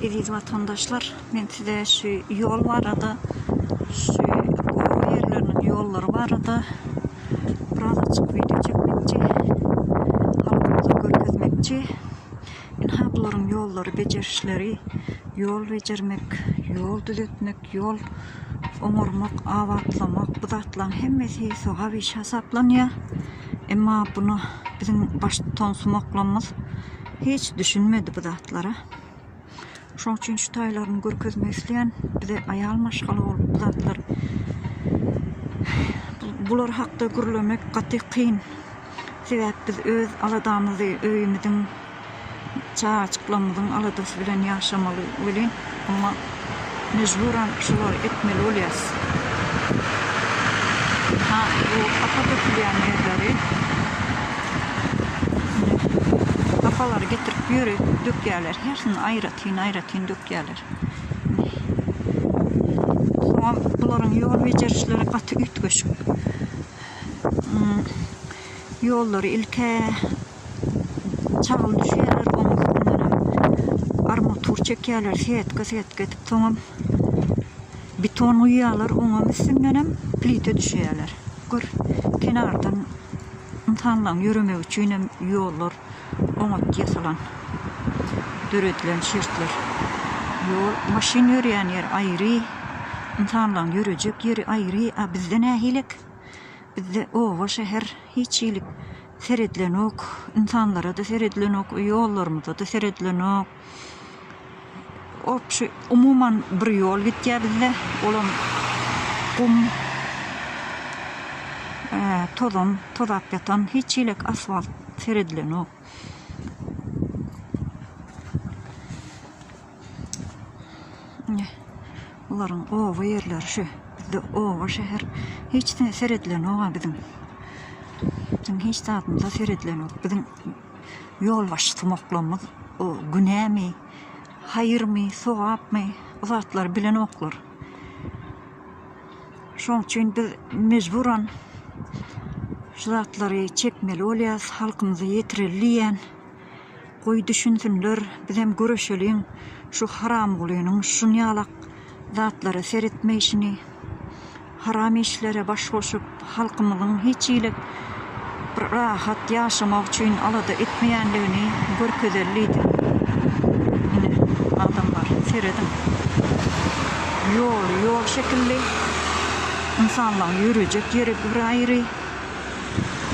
Eziz watandaşlar, men size şu ýol barada, şu gowy ýerleriniň ýollary barada biraz açyk wideo çekmekçi, halkymyza görkezmekçi. Ynha bularyň ýollary, bejerişleri, ýol bejermek, ýol düzetmek, ýol oňarmak, abatlamak, bu zatlaryň hemmesi sogap işi hasaplanýar. Emma bunu biziň baştutan sumaklarymyz Hiç düşünmedi bu zatlara. Şoň üçin şu taýlaryny görkezmek isleýän. Bize aýal maşgala bolup bu zatlar bular hakda gürlemek gaty kyn. Sebäp biz öz aladamyzy, öýümiziň, çagajyklarymyzyň aladasy bilen ýaşamaly welin, emma Mejburan şolary etmeli bolýas. Ha bu hapa dökülýän ýerleri ine hapalary getirip bu ýere dökýärler. Hersini aýratyn aýratyn dökýärler. Soňam bularyň ýol bejerişleri gaty üýtgeşik. Ýollary ilk-ä çagly düşýärler, onuň üstündenem armatur çekýärler, setka-setka edip, soňam beton guýýarlar, oňam üstündenem plita düşýärler. Gör, kenardan ynsanlaryň ýöremegi üçinem ýollar oňat ýasalan, döredilen şertler. Ýol, maşyn ýörýän ýer aýry, ynsanlaryň ýörejek ýeri aýry, a bizde nähilek? Bizde oba, şäher hiç hili Seredilenok, ynsanlara-da seredilenok, ýollarymyza-da seredilenok. Obşi, umuman bir ýol gitýär bizde, olam gum, tozan, tozap ýatan, hiç hilek asfalt seredilenok. Ine, bularyň oba ýerleri şu. Bizde oba, şäher hiç ne seredilenok-a biziň. Biziň hiç zadymyza seredilenok. Biziň ýolbaşçymoklarymyz o günämi, haýyrmy, sogapmy, bu zatlary bilenoklar. Şonuň üçin biz mejburan şu zatlary çekmeli bolýarys, halkymyza ýetireli diýýän. Goý düşünsinler bizem göreşeliň şu haramgulynyň şunýalak zatlara seretmeýşini haram işlere baş goşup halkymyzyň hiç hili bir rahat ýaşamak üçin alada etmeýänligini görkezel diýdim. Ine adamlar serediň ýoly ýol şekilli ynsanlaň ýörejek ýeri bir aýry.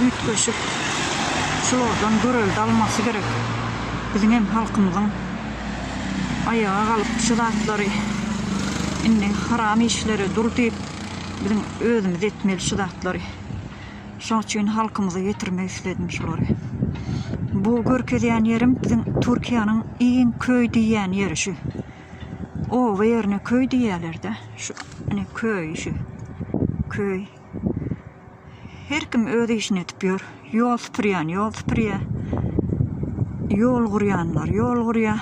Üýtgeşik şulardan görelde almasy gerek biziň hem halkymyzyň aýaga galyp şu zatlary indi haram işlere dur diýip biziň özümiz etmeli şu zatlary şoň üçin halkymyza ýetirmek isledim şulary bu görkezýän ýerim biziň türkiýäniň iň köý diýýän ýeri şu oba ýerine köý diýýälerde şu ine köý şu köý. Her kim öz işini edip ýör. Ýol süpürýän ýol süpürýär. Ýol gurýanlar ýol gurýar.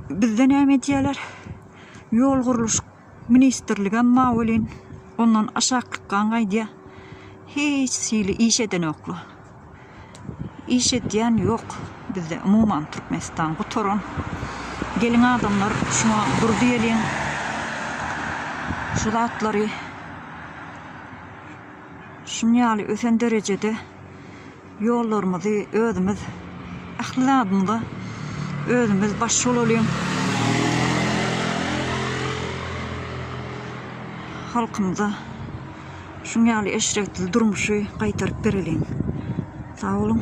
Bizde näme edýärler? Ýol gurluş ministrligem mawelin ondan aşaklyk gan gaýdýar. Hiç hili iş edenoklar. Iş edýän ýok bizde umuman Türkmenistan gutaran. Geliň adamlar şuňa dur diýeliň. Şu zatlary şun ýaly ösen derejede ýollarymyzy özümiz ähli zadymyza özümiz baş bolalyň. Halkymyza Şuň ýaly eşretli durmuşy gaýtaryp bereliň. Sag boluň.